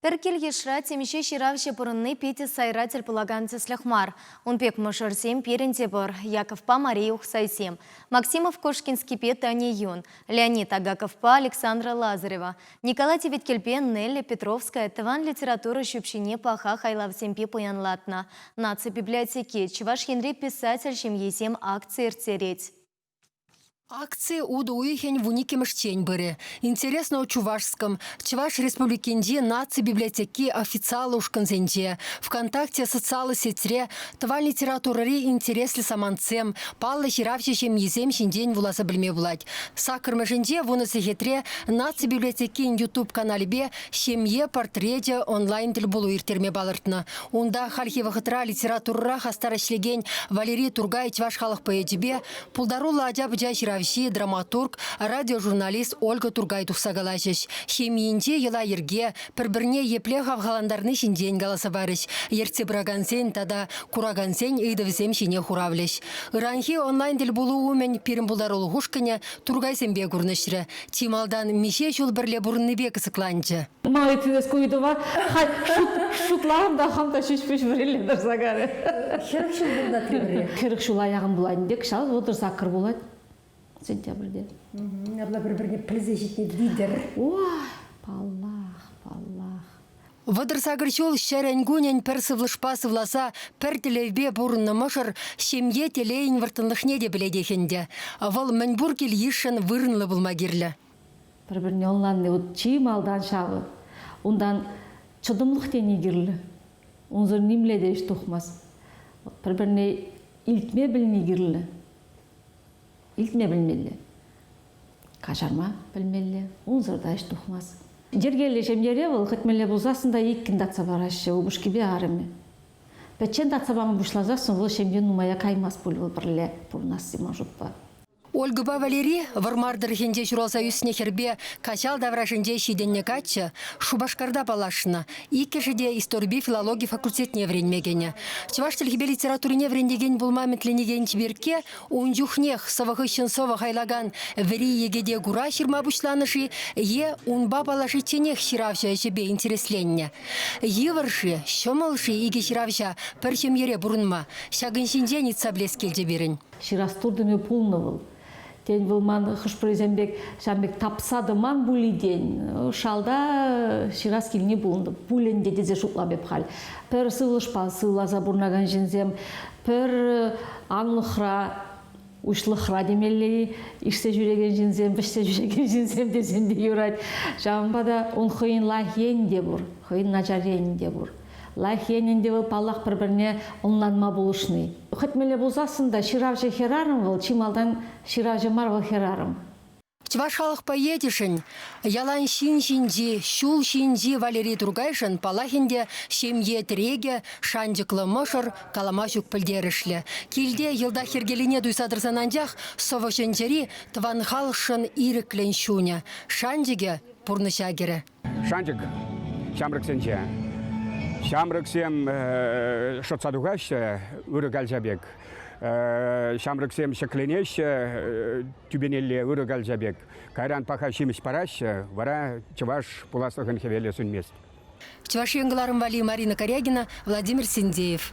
Пӗр кил-йышра темиҫе ҫыравҫӑ пурӑнни питӗ сайра тӗл пулакан тӗслӗх мар. Ун пек мӑшӑрсем пирӗн те пур – Яковпа Мария Ухсайсем, Максимов Кошкинскипе Тани Юн, Леонид Агаковпа Александра Лазарева, Николай Теветкелпе Нелли Петровская тӑван литература ҫӳпҫине паха хайлавсемпе пуянлатнӑ. Наци библиотеки Чӑваш Енри писатель ҫемйисем акци ирттерет. Акци утӑ уйӑхӗн вун иккӗмӗшчен пырӗ. Интересно о Чувашском. Чӑваш Республикинчи наци библиотеки официаллӑ ушкӑнсенче, ВКонтакте социаллӑ сетьре тӑван литературӑри интереслӗ самантсем, паллӑ ҫыравҫӑ ҫемйисем ҫинчен вуласа пӗлме пулать. Саккӑрмӗшӗнче вунӑ сехетре наци библиотекин YouTube каналӗпе Ҫемье портречӗ онлайн-тӗлпулу ирттерме палӑртнӑ. Унта хальхи вӑхӑтра литературӑра хастар ӗҫлекен Валерий Тургай чӑваш халӑх поэчӗпе, пултаруллӑ ача-пӑча ҫыравҫи, драматург, радиожурналист Ольга Тургай тухса калаҫӗҫ, ҫемйинче йӑла-йӗрке, пӗр-пӗрне епле хавхалантарни ҫинчен каласа парӗҫ, ертсе пыракансен тата куракансен ыйтӑвӗсем ҫине хуравлӗҫ. Ыранхи онлайн-тӗлпулу умӗн пирӗн пултарулӑх ушкӑнӗ туркайсемпе курнӑҫрӗ. Чи малтан миҫе ҫул пӗрле пурӑннипе кӑсӑкланчӗ. Май килес ку ыйтӑва халь шутларӑм та хам та ҫеҫ-пуҫ вӗрилле тӑрса карӗ. Хӗрӗх ҫул пурӑнать пӗр-пӗре. Хӗрӗх ҫула яхӑн пулать ӗнтӗ, кӑҫал вӑтӑр саккӑр пулать сентябрьте. Ҫавна пӗр-пӗрне пӗлсе ҫитни витӗр. Ой, паллах, паллах. Вӑтӑр сакӑр ҫул ҫӗрӗн-кунӗн пӗр сывлӑшпа сывласа, пӗр тӗллевпе пурӑннӑ мӑшӑр ҫемье телейӗн вӑрттӑнлӑхне те пӗлетех ӗнтӗ. Вӑл мӗнпур кил-йышшӑн вырӑнлӑ пулма кирлӗ. Пӗр-пӗрне ӑнланни вӑт чи малтан ҫавӑ. Унтан чӑтӑмлӑх тени кирлӗ. Унсӑр нимле те ӗҫ тухмасть. Пӗр-пӗрне илтме пӗлни кирлӗ. Илтме пӗлмелле, каҫарма пӗлмелле, унсӑр та ӗҫ тухмасть. Йӗркеллӗ ҫемьере вӑл кӗтмелле пулсассӑн та иккӗн татса параҫҫӗ упӑшкипе арӑмӗ. Пӗччен татса пама пуҫласассӑн вӑл ҫемье нумая каймасть пуль вӑл пӗрле пурӑнасси Машукпа. Ольгӑпа Валери Вӑрмар тӑрӑхӗнче ҫуралса ӳснӗ хӗрпе каҫал таврашӗнче ҫитӗннӗ каччӑ Шупашкарта паллашнӑ. Иккӗшӗ те историпе филологи факультетне вӗренме кӗнӗ. Чӑваш чӗлхипе литературине вӗрентекен пулма ӗмӗтленекен чиперкке Ун чухнех сӑвӑ хыҫҫӑн сӑвӑ хайлакан вӗри йӗкӗте кура ҫырма пуҫланӑ-ши е унпа паллашичченех ҫыравҫӑ ӗҫӗпе интересленнӗ. Йывӑр-ши, ҫӑмӑл-ши икӗ ҫыравҫа пӗр ҫемьере пурӑнма? Ҫакӑн ҫинчен ыйтса пӗлес килчӗ пирӗн. Ҫырас туртӑмӗ пулнӑ вӑл. Тен, вӑл ман хӑш-пӗрисем пек ҫав пек тапса тӑман пуль-и тен. Шалта ҫырас килни пулнӑ пуль ӗнтӗ тесе шутлам эп халь. Пӗр сывлӑшпа сывласа пурӑнакан ҫынсем Пӗр анлӑхра, уҫлӑхра темелле-и, ишсе ҫӳрекен ҫынсем, вӗҫсе ҫӳрекен ҫынсем тесен те юрать. Ҫавӑнпа та ун хӑйӗн лайӑх енӗ те пур, хӑйӗн начар енӗ те пур. Лайӑх енӗн те вӑл, паллах, пӗр-пӗрне ӑнланма пулӑшни. Хӑтмелле пулсассӑн та ҫыравҫӑ-хӗрарӑм вӑл, чи малтан ҫыравҫӑ мар вӑл хӗрарӑм. Чӑваш халӑх поэчӗшӗн ялан ҫын ҫинчи, ҫул ҫинчи Валерий Тургайшӑн паллахин те ҫемье тӗрекӗ, шанчӑклӑ мӑшӑр, калама ҫук пӗлтерӗшлӗ. Килте йӑлтах йӗркелине туйса тӑрсан анчах сӑвӑ-чӗнчӗри тӑван халӑхшӑн ирӗклӗн чунӗ, шанчӑкӗ пурнӑҫа кӗрӗ. Шанчӑк ҫамрӑксенче. Ҫамрӑксем шӑтса тухаҫҫӗ ырӑ калча пек. Ҫамрӑксем ҫӗкленеҫҫӗ тӳпенелле ырӑ калча пек. Кайран паха ҫимӗҫ параҫҫӗ, вара чӑваш пуласлӑхӑн хӗвелӗ сӳнмест. Чӑваш Ен кӑларӑм валли Марина Корягина, Владимир Синдеев.